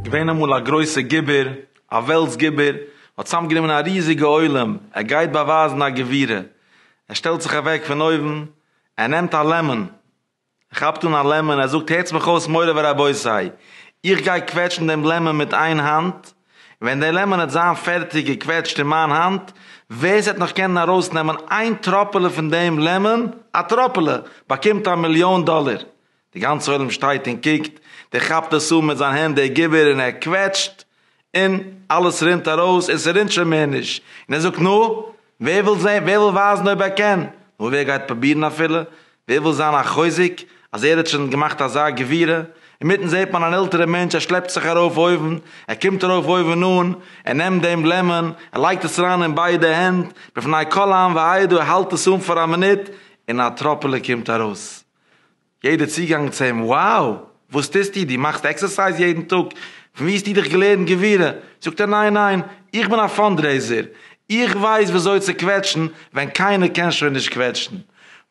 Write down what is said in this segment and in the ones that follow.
געווען אמאל א גרויסע גיבור, א וועלטס גיבור, ער האט צוזאם גענומען א ריזיגע עולם, ער גייט באווייזן א גבירה, ער שטעלט זיך אוועק פון אויבן, ער נעמט א לעמען, ער כאפט אן א לעמען, ער זאגט הערטס מיך אויס מורי ורבותי, איך גיי קוועטשן דעם לעמען מיט איין האנט, און ווען דער לעמאן העט זיין פערטיג געקוועטשט אין מיין האנט, ווער ס'עט נאך קענען ארויס נעמען איין טראפעלע פון דעם לעמאן, א טראפעלע, באקומט א מיליאן דאלער. די גאנצע עולם שטייט און קוקט, דער כאפט עס אן מיט זיין הענט דער געבער און ער קוועטשט און אלעס רינט ארויס און ס'רינט שוין מער נישט, און ער זאגט נו, ווער וויל זען, ווער וויל ווייזן אויב ער קען, נו ווער גייט פרובירן אפילו, ווער וויל זיין א חוזק אז ער האט שוין געמאכט אזא גבירה, אינמיטן זעט מען אן עלטערע מענטש ער שלעפט זיך ארויף אויבן, ער קומט ארויף אויבן אן, ער נעמט דעם לעמען, ער לייגט עס אריין אין ביידע הענט, בפני כל העם והעדה, ער האלט עס אן פאר א מינוט, און א טראפעלע קומט ארויס. יעדער צוגאנג צו אים, wow! וואס טוסטו? דו מאכסט עקסערסייז יעדן טאג? פון וואו האסטו דיך געלערנט גבורה? זאגט ער, ניין ניין, איך בין א פאנדרעיזער, איך ווייס וויאזוי צו קוועטשן ווען קיינער קען שוין נישט קוועטשן.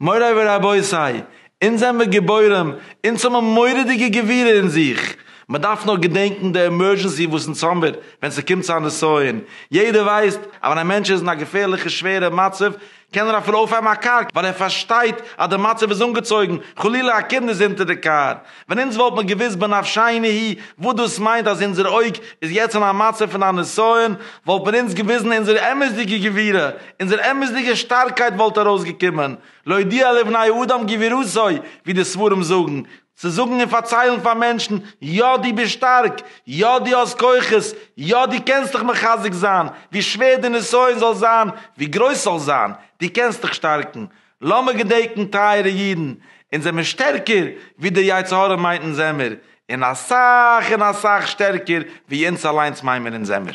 מוריי ורבותי, אונז זעמיר גיבורים, אונז האבן מורא'דיגע גבורה אין זיך, מ'דארף נאר געדענקן די עמורזשענסי וואס אונז האמיר ווען ס'קומט צו א נסיון, יעדער ווייסט אז ווען א מענטש איז אין א געפערליכע שווערע מצב, קען ער אפילו אויפהייבן א קאר ווייל ער פארשטייט אז די מצב איז אנגעצויגן, חלילה א קינד איז אונטער די קאר, ווען אונז וואלט מיר געוואוסט בנפשינו הי וואס דאס מיינט אז אונזער אויג איז יעצט אין א מצב פון א נסיון, וואלט מען אונז געוויזן אונזער אמת'דיגע גבירה, אונזער אמת'דיגע שטארקייט וואלט ארויסגעקומען, להודיע לבני אדם גבירותו ווי די ספרים זאגן, צו זאגן און פארציילן פאר מענטשן, יא דו ביסט שטארק, יא דו האסט כוחות, יא דו קענסט דיך מחזק זיין, ווי שווער די נסיון זאל זיין, ווי גרויס ס'זאל זיין, דו קענסט דיך שטארקן. לאמיר געדענקן טייערע אידן, אונז זעמיר שטערקער ווי דער יצר הרע מיינט אונז זעמיר, און אסאך און אסאך שטערקער ווי אונז אליינס מיין מיר אונז זעמיר.